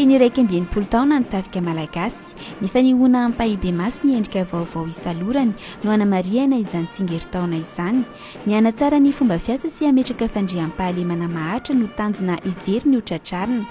Feno iraika amby enimpolo taona ny tafika malagasy. Ny fanehoana ampahibemaso ny endrika vaovao isalorany no hanamarihana izany tsingerin-taona izany. Ny hanatsara ny fomba fiasa sy hametraka fandriampahalemana maharitra no tanjona heveriny ho tratrarina.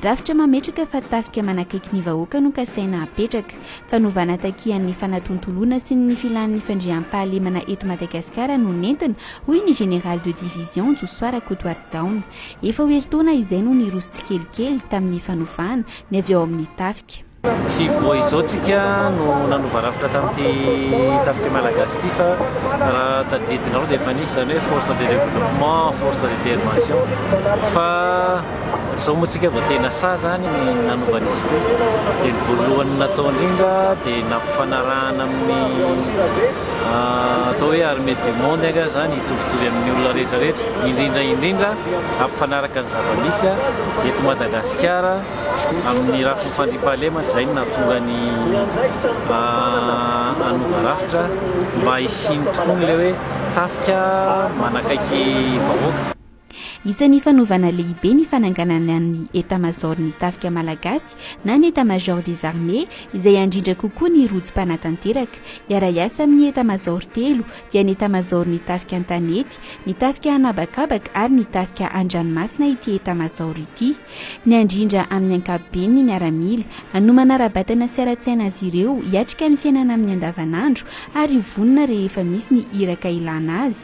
Rafitra mametraka fa tafika manakaiky ny vahoaka no kasaina hapetraka. Fanovana takian'ny fanatontoloana sy ny filan'ny fandriampahalemana eto Madagasikara no nentina, hoy ny Général de division Josoa Rakotoarijaona. Efa ho herintaona izay no niroso tsikelikely tamin'ny fanovana ny avy ao amin'ny tafika. Tsy vao izao tsika no nanova rafitra tamin'ity tafika malagasy ity fa raha tadidinareo dia efa nisy izany hoe force de développement, force de démation fa. Zao moa tsika vao tena sahy zany ny nanova an'izy ity dia ny voalohany natao indrindra dia nampifanarahana amin'ny atao hoe armée du monde anga zany hitovitovy amin'ny olona rehetra rehetra indrindra indrindra hampifanaraka ny zava-misy eto Madagasikara amin'ny rafiny fandriampahalemana izay no nahatonga ny hanova rafitra mba hisian'ny tokoa ilay hoe tafika manakaiky vahoaka. Isan'ny fanovana lehibe ny fananganana ny Etamazaoron'ny Tafika Malagasy na ny Etat-Major des Armées izay handrindra kokoa ny rojo mpanatanteraka. Hiara-hiasa amin'ny Etamazaoro telo dia ny Etamazaoron'ny Tafika an-tanety, ny Tafika an'habakabaka ary ny Tafika an-dranomasina ity Etamazaoro ity. Ny handrindra amin'ny ankapobeny ny miaramila, hanomana ara-batana sy ara-tsaina azy ireo hiatrika ny fiainana amin'ny andavanandro ary ho vonona rehefa misy ny iraka ilana azy.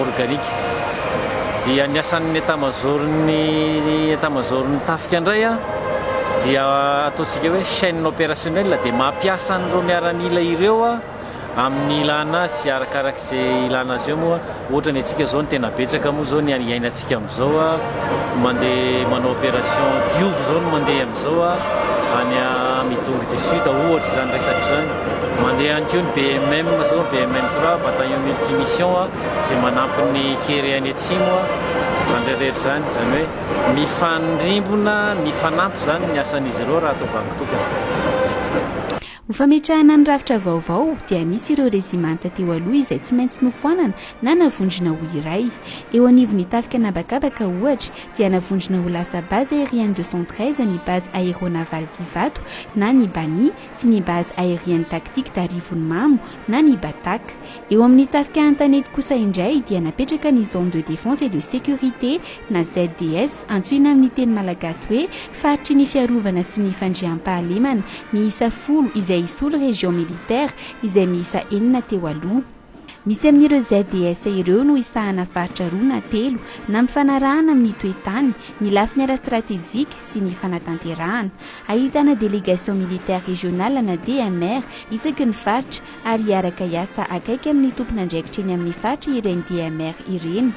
organique. Dia ny asan'ny etamazaoron'ny etamazaoron'ny tafika indray dia ataontsika hoe chaine opérationnelle dia mampiasa an'ireo miaramila ireo amin'ny ilana azy sy arakarak'izay ilana azy eo moa ohatra ny antsika izao ny tena betsaka moa izao ny iainantsika Tsika amizao a mande manao operation diovy zao no mande amizao a any a midongy du sud a ohatra zany resaka zany mande ihany ko ny BMM zao BMM trois bataillon multi mission a ze manampy ny kere any atsimo a zany reretra zany zany hoe mifandrimbona mifanampy zany ny asan'izy ireo raha atao bango tokana. Ho fametrahana ny rafitra vaovao dia misy ireo rezimanta teo aloha izay tsy maintsy nofoanana na navondrona ho iray. Eo anivon'ny tafika an'habakabaka ohatra dia navondrona ho lasa Base Aérienne deux cent treize ny Base Aéronavale d'Ivato na ny Bani, tsy ny Base Aérienne Tactique d'Arivonimamo na ny Batac. Eo amin'ny tafika Antanety kosa indray dia napetraka ny Zone de Défense et de Sécurité na ZDS, antsoina amin'ny teny malagasy hoe Faritry ny Fiarovana sy ny Fandriampahalemana, miisa folo izay hisolo Région Militaire izay miisa enina teo aloha. Misy amin'ireo ZDS ireo no hisahana faritra roa na telo na mifanarahana amin'ny toe-tany, ny lafiny ara-stratejika sy ny fanatanterahana. Ahitana Délégation Militaire Régionale na DMR isaky ny faritra, ary hiaraka hiasa akaiky amin'ny tompon'andraikitra eny amin'ny faritra ireny DMR ireny.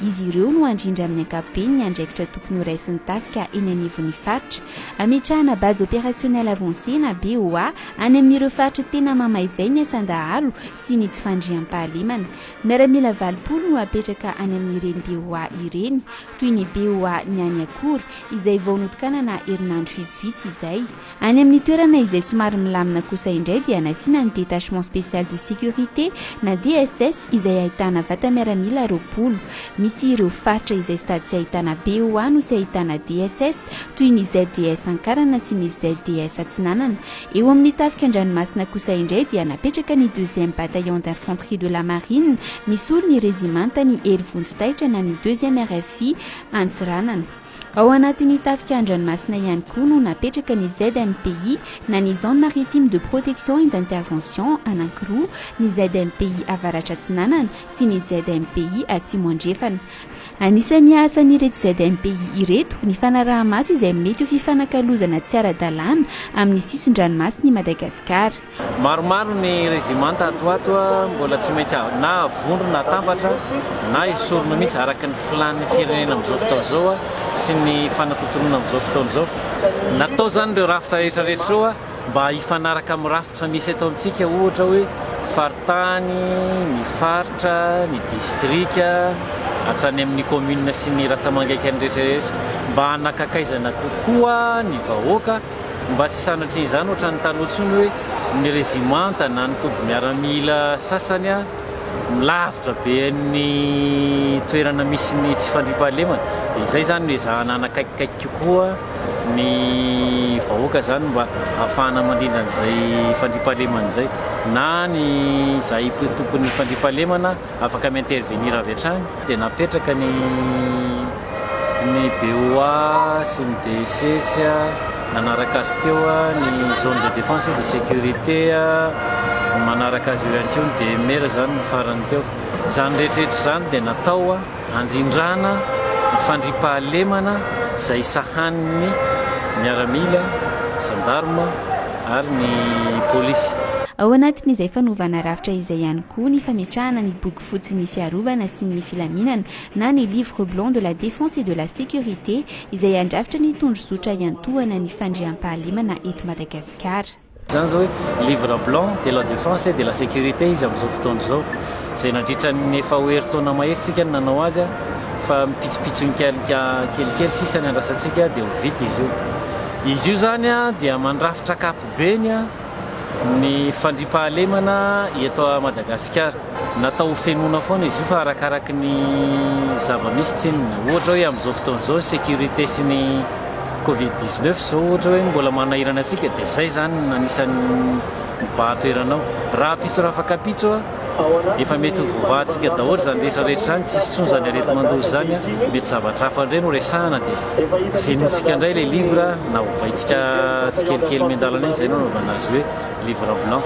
Izy ireo no handrindra amin'ny ankapobeny ny andraikitra tokony horaisin'ny tafika eny anivon'ny faritra. Hametrahana Base Opérationnelle Avancée na BOA any amin'ireo faritra tena mamaivay ny asan-dahalo sy ny tsy fandriampahalemana. Miaramila valopolo no hapetraka any amin'ireny BOA ireny, toy ny BOA ny any Akora, izay vao notokanana herinandro vitsivitsy izay. Any amin'ny toerana izay somary milamina kosa indray dia nasiana ny Détachement Spécial de Sécurité na DSS izay ahitana vata miaramila roapolo. Misy ireo faritra izay sady tsy ahitana BOA no tsy ahitana DSS toy ny ZDS Ankarana sy ny ZDS Atsinanana. Eo amin'ny tafika an-dranomasina kosa indray dia napetraka ny Deuxième Bataillon d'Infanterie de la Marine misolo ny Rezimanta ny Hery Vonjy Taitra na ny Deuxième RFI Antsiranana. Ao anatin'ny tafika an-dranomasina ihany koa no napetraka ny ZMPI na ny Zone Maritime de Protection et d'Intervention anankiroa, ny ZMPI Avaratra Atsinanana sy ny ZMPI Atsimo Andrefana. Anisan'ny asan'ireto ZMPI ireto ny fanaraha-maso izay mety ho fifanakalozana tsy ara-dalàna amin'ny sisin-dranomasin'i Madagasikara. Maromaro ny rezimanta ato ho ato mbola tsy maintsy na avondrona atambatra na esorina mihitsy araka ny filàn'ny firenena amin'izao fotoana izao sy ny fanatontoloana amin'izao fotoana izao. Natao izany ireo rafitra rehetrarehetra ireo mba hifanaraka amin'ny rafitra misy eto amintsika ohatra hoe faritany, ny faritra, ny distrika hatrany amin'ny commune sy ny ratsamangaikan'ny rehetrarehetra mba hanakakaizana kokoa ny vahoaka. Mba tsy sanatria izany ohatra ny taloha intsony hoe ny rezimanta na ny toby miaramila sasany lavitra be ny toerana misy ny tsy fandriampahalemana dia izay izany no ezahana hanakaikikaiky kokoa ny vahoaka izany mba hahafahana mandrindra an'izay fandriampahalemana izay na ny izahay tompon'ny fandriampahalemana afaka mi-intervenir avy hatrany dia napetraka ny ny BOA sy ny DSS nanaraka azy teo ny zone de défense et de sécurité manaraka azy eo ihany koa ny DMR izany ny farany teo izany rehetrarehetra izany dia natao handrindrana ny fandriampahalemana izay sahanin'ny miaramila gendarme ary ny polisy ao anatin'izay fanovana rafitra izay ihany koa ny fametrahana ny boky fotsin'ny fiarovana sy ny filaminana na ny Livre blanc de la défense et de la sécurité izay handrafitra ny tondrozotra hiantohana ny fandriampahalemana eto Madagasikara. Izany izao hoe Livre blanc de la défense et de la sécurité izy amin'izao fotoana izao, izay nandritra ny efa ho herintaona mahery tsika no nanao azy fa mipitsopitsonika kelikely sisa ny andrasantsika dia ho vita izy io. Izy io izany dia mandrafitra ankapobeny. Ny fandriampahalemana eto Madagasikara, natao ho fenoina foana izy io fa arakaraky ny zava-misy tsinona. Ohatra hoe amin'izao fotoana izao ny sécurité sy ny covid dix neuf izao ohatra hoe mbola manahirana antsika dia izay izany no anisan'ny mibahan-toerana ao. Rahampitso rafakapitso. Efa mety ho voavahantsika daholo izany rehetra rehetra izany tsisy intsony izany areti-mandoro izany a, mety zavatra hafa indray no resahana dia henointsika indray ilay livre na ovaintsika tsikelikely miandalana iny izay no anaovana azy hoe livre blanc.